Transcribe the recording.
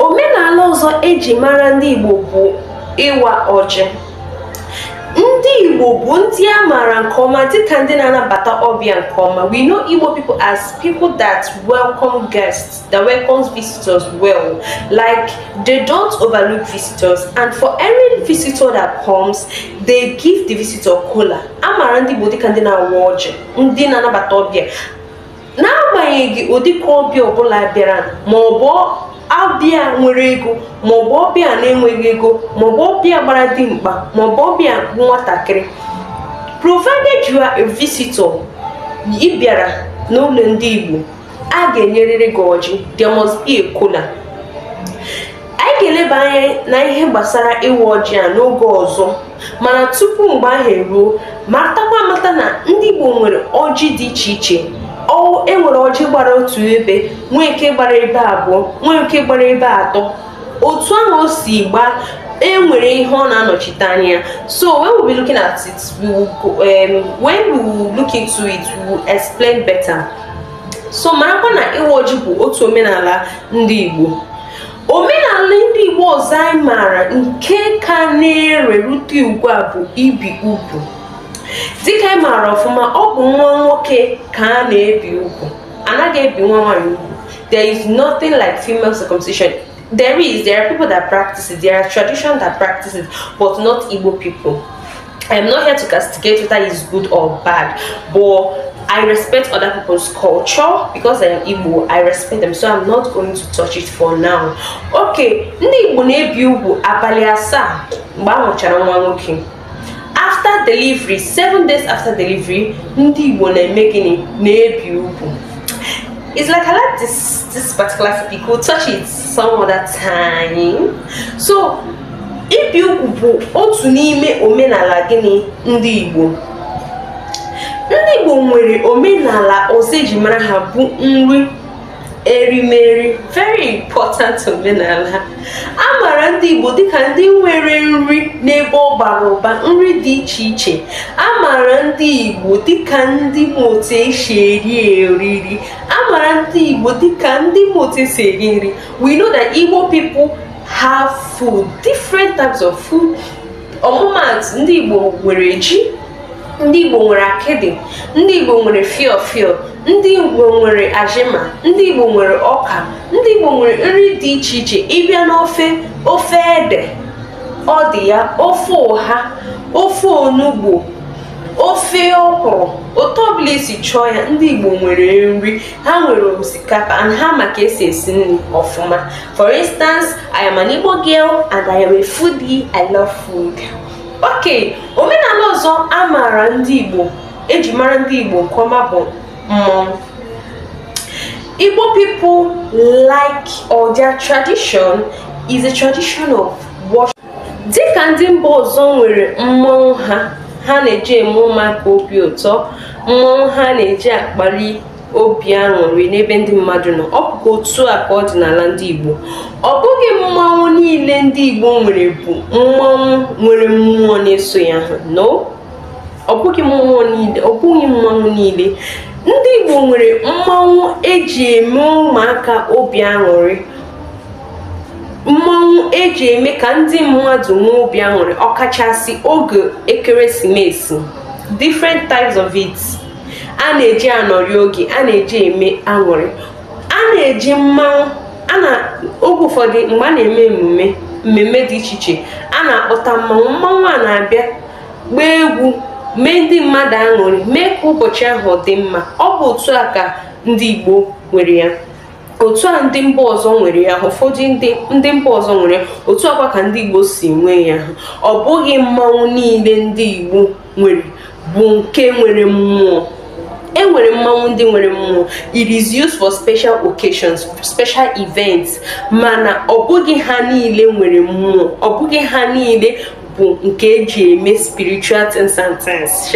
omenala ọzọ eji mara ndị Igbo bụ ịwa ọjị ndị Igbo bụ ndị a maara nke ọma dịka ndị na-anabata ọbịa nke ọma we know Igbo people as people that welcome guests that welcomes visitors well like they don't overlook visitors and for every visitor that comes they give the visitor kola a maara ndị Igbo dịka ndị na-awa ọjị ndị na-anabata ọbịa n'agbanyeghị ụdịka ọbịa ọbụla bịara ma ọ bụ ọbịa nwere ego ma ọ bụ ọbịa na-enweghị ego ma ọ bụ ọbịa gbara dimkpa ma ọ bụ ọbịa nwatakịrị provided you are a visitor ị bịara n'ụlọ ndị Igbo a ga-enyerịrị gị ọjị there must be a kola anyị ga-eleba anya na ihe gbasara ịwa ọjị a n'oge ọzọ mana tupu mgbe ahụ eruo matakwa amata na ndị Igbo nwere ọjị dị iche iche enwere ọjị gbara otu ebe nwee nke gbara ebe abụọ nwee nke gbara ebe atọ otu ahụ o si gbaa enwere ihe ọ na-anọchite anya so when we'll be looking at it we will go, um, when we will look into it we will explain better so marakwa na ịwa ọjị bụ otu omenala ndị Igbo omenala ndị igbo ọzọ anyị maara nke ka na-ere rute ugbu a bụ ibi ugwu dịka anyị maara ọfụma ọ bụ nwa nwoke ka a na-ebi ugwu anaghị ebi nwa nwaanyị ugwu there is nothing like female circumcision there is there are people that practice it there are traditions that practice it but not igbo people I am not here to castigate whether it's good or bad, but I respect other people's culture because I am Igbo. I respect them, so I'm not going to touch it for now. Okay, ndị Igbo na-ebi ugwu abalị asaa mgbe a mụchara nwa nwoke. After delivery, seven days after delivery, ndị Igbo na-eme gịnị na-ebi ugwu. It's like I like this this particular topic. We'll touch it some other time. So ibi ugwu bụ otu n'ime omenala gịnị ndị Igbo ndị Igbo nwere omenala ọzọ eji mara ha bụ nri erimeri very important omenala a maara ndị Igbo dịka ndị nwere nri n'ebe ọ bara ụba nri dị iche iche a maara ndị Igbo dịka ndị ma otu esi eri eriri a maara ndị Igbo dịka ndị ma otu esi eri nri we know that Igbo people have food different types of food ọmụmaatụ ndị Igbo nwere ji ndị Igbo nwere akịdị ndị Igbo nwere fio fio ndị Igbo nwere azima ndị Igbo nwere ọka ndị Igbo nwere nri dị iche iche ị bịa n'ofe ofe ede ọ dị ya ofe ụha ofe onugbo ofe ọkwụrụ otu ọbụla esi chọọ ya ndị Igbo nwere nri ha nwere osikapa and ha ma ka esi esi nri ọfụma for instance i am an igbo girl and i am a foodie i love food ok omenala ọzọ a maara ndị igbo eji mara ndị igbo nke ọma bụ mmọnwụ igbo people like or their tradition is a tradition of worship dịka ndị mba ọzọ nwere mmọnwụ ha ha na-eji eme ụmụaka obi ụtọ mmọnwụ ha na-eji akpali obi aṅụrị n'ebe ndị mmadụ nọ ọ bụkwa otu a ka ọ dị n'ala ndị Igbo ọ bụghị mmọnwụ niile ndị Igbo nwere bụ mmọnwụ nwere mmụọ na-eso ya ha no ọ bụghị mmụọ niile ọ bụghị mmanwụ niile ndị Igbo nwere mmọnwụ eji eme ụmụaka obi aṅụrị mmọnwụ eji eme ka ndị mmadụ nwee obi aṅụrị ọkachasị oge ekeresimesi different types of it a na-eji anọrị oge a na-eji eme aṅụrị a na-eji mmanwụ a n'oge ụfọdụ mgbe a na-eme emume mmemme dị iche iche a na-akpọta mmanwụ mmanwụ a na-abịa gbaa egwu mee ndị mmadụ aṅụrị mee ka ụbọchị ahụ dị mma ọ bụ otu a ka ndị Igbo nwere ya otu a ndị mba ọzọ nwere ya ụfọdụ ndị ndị mba ọzọ nwere ya otu a kwa ka ndị igbo si nwee ya ọ bụghị mmanwụ niile ndị igbo nwere bụ nke nwere mmụọ e nwere mmanwụ ndị nwere mmụọ it is used for special occasions special events mana ọ bụghị ha niile nwere mmụọ ọ bụghị ha niile bụ nke eji eme spiritual things and things